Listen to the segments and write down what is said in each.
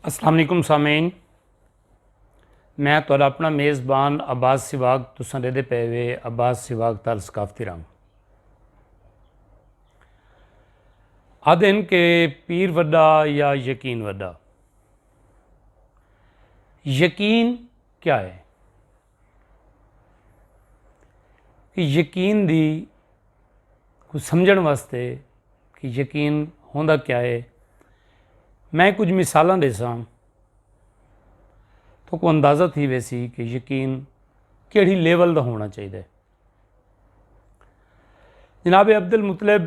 السلام علیکم سامعین میں تھوڑا اپنا میزبان عباس سواگ تساں دے دے پے وے عباس سواگ تال ثقافتی رنگ آدھن کہ پیر وڈا یا یقین وڈا یقین کیا ہے یقین دی سمجھن واسطے کہ یقین ہوندا کیا ہے میں کچھ مثالاں دے ساں تو کو اندازہ تھی ویسی کہ یقین کیڑھی لیول دا ہونا چاہیے جناب عبد المطلب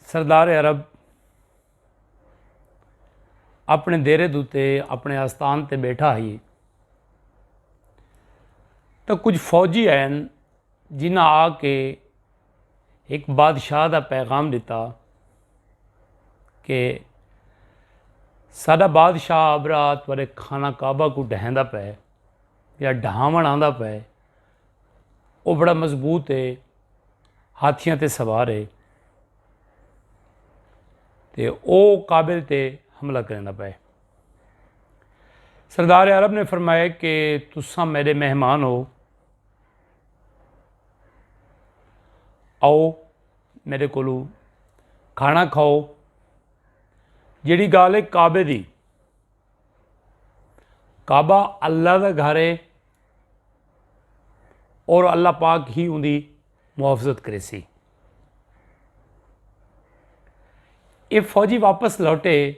سردار عرب اپنے دیرے دوتے اپنے آستان تے بیٹھا ہی تو کچھ فوجی ہیں جنہ آ کے ایک بادشاہ دا پیغام دیتا کہ سادہ بادشاہ آبرا تھوڑے کھانا کعبہ کو ڈہندا پے یا ڈھاون آندا پے وہ بڑا مضبوط ہے ہاتھیاں تے سوار ہے تے او کابل تے حملہ کرنا پائے سردار عرب نے فرمایا کہ تساں میرے مہمان ہو آؤ میرے کو کھانا کھاؤ جیڑی گال ہے کعبے دی کعبہ اللہ دا گھر ہے اور اللہ پاک ہی ان دی محافظت کریسی۔ اے فوجی واپس لوٹے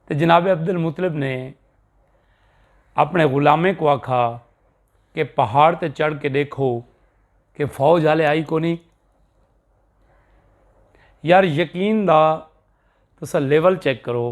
تے جناب عبد المطلب نے اپنے غلامیں کو آکھا کہ پہاڑ تے چڑھ کے دیکھو کہ فوج والے آئی کو نہیں یار یقین دا تسا لیول چیک کرو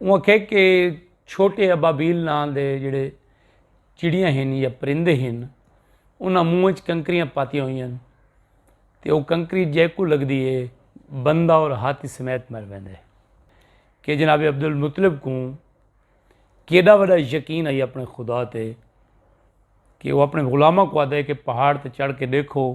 انہوں آکھیا کہ چھوٹے ابابیل ناں دے جڑے چڑیاں ہن یا پرندے ہن انہاں منہ وچ کنکریاں پاتیاں ہوئی ہیں تے او کنکری جیکو لگدی ہے بندہ اور ہاتھی سمیت مر ویندے کہ جناب عبد المطلب کو کیڈا وڈا یقین آئی اپنے خدا تے کہ وہ اپنے غلامہ کو آدھے کہ پہاڑ تے چڑھ کے دیکھو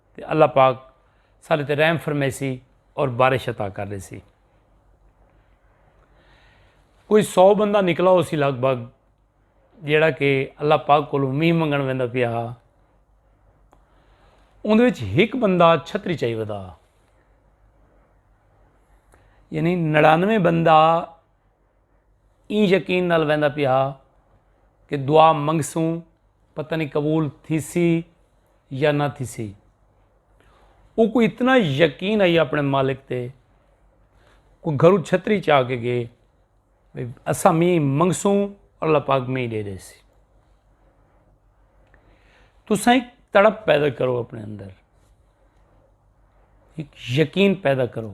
تے اللہ پاک ساݙے تے رحم فرمیسی اور بارش عطا کر ݙیسی۔ کوئی سو بندہ نکلا ہوسی لگ بھگ جیڑھا کہ اللہ پاک کولوں مینہ منگݨ ویندا پیا ہا اوندے وچ ہک بندہ چھتری چائی ودا یعنی نڑانوے بندہ ایں یقین نال ویندا پیا ہا کہ دعا منگسوں پتہ نہیں قبول تھیسی یا نہ تھیسی وہ کوئی اتنا یقین آئی اپنے مالک تے کوئی گھرو چھتری چاہ کے گئے اسا می منگسوں اللہ پاک می دے دے سی تو سائیں تڑپ پیدا کرو اپنے اندر ایک یقین پیدا کرو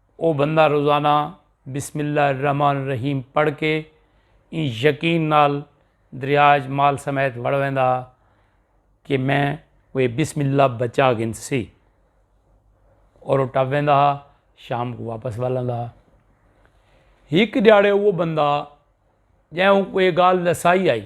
او بندہ روزانہ بسم اللہ الرحمن الرحیم پڑھ کے ایں یقین نال دریا اچ مال سمیت وڑ ویندا ہا کہ میں اوے بسم اللہ بچا گھن سی اور وہ ٹپ ویندا ہا شام کو واپس ول آندا ہا ہک دیاڑے وہ بندہ جے اوں کوئی گال دسائی آئی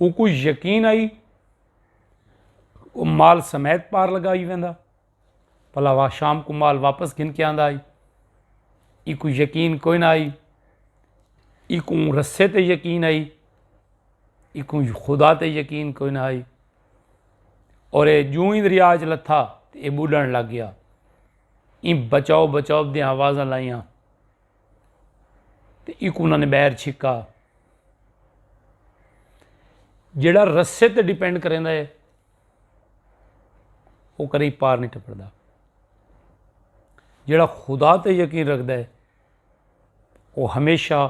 اوکوں یقین آئی مال سمیت پار لگائی ویندا بھلا وا شام کو مال واپس گھن کے آندا آئی ای کو یقین کوئی نہ آئی ای کو رسے تے یقین آئی ای کو خدا تے یقین کوئی نہ آئی اور اے جو ہی دریا چ لتھا تے اے بڈن لگ گیا ای بچاؤ بچاؤ دی آوازاں لائیاں تے ایکوں انہاں نے بیر چھکا جیڑا رسے تے ڈیپینڈ کریں دا ہے وہ کریں پار نہیں ٹپڑ دا جیڑا خدا تے یقین رکھ دا ہے وہ ہمیشہ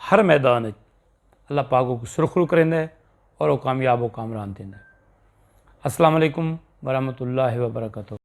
ہر میدان ہے اللہ پاک کو سرخرو کریں دا ہے اور وہ کامیاب و کامران دیں دا ہے السلام علیکم ورحمۃ اللہ وبرکاتہ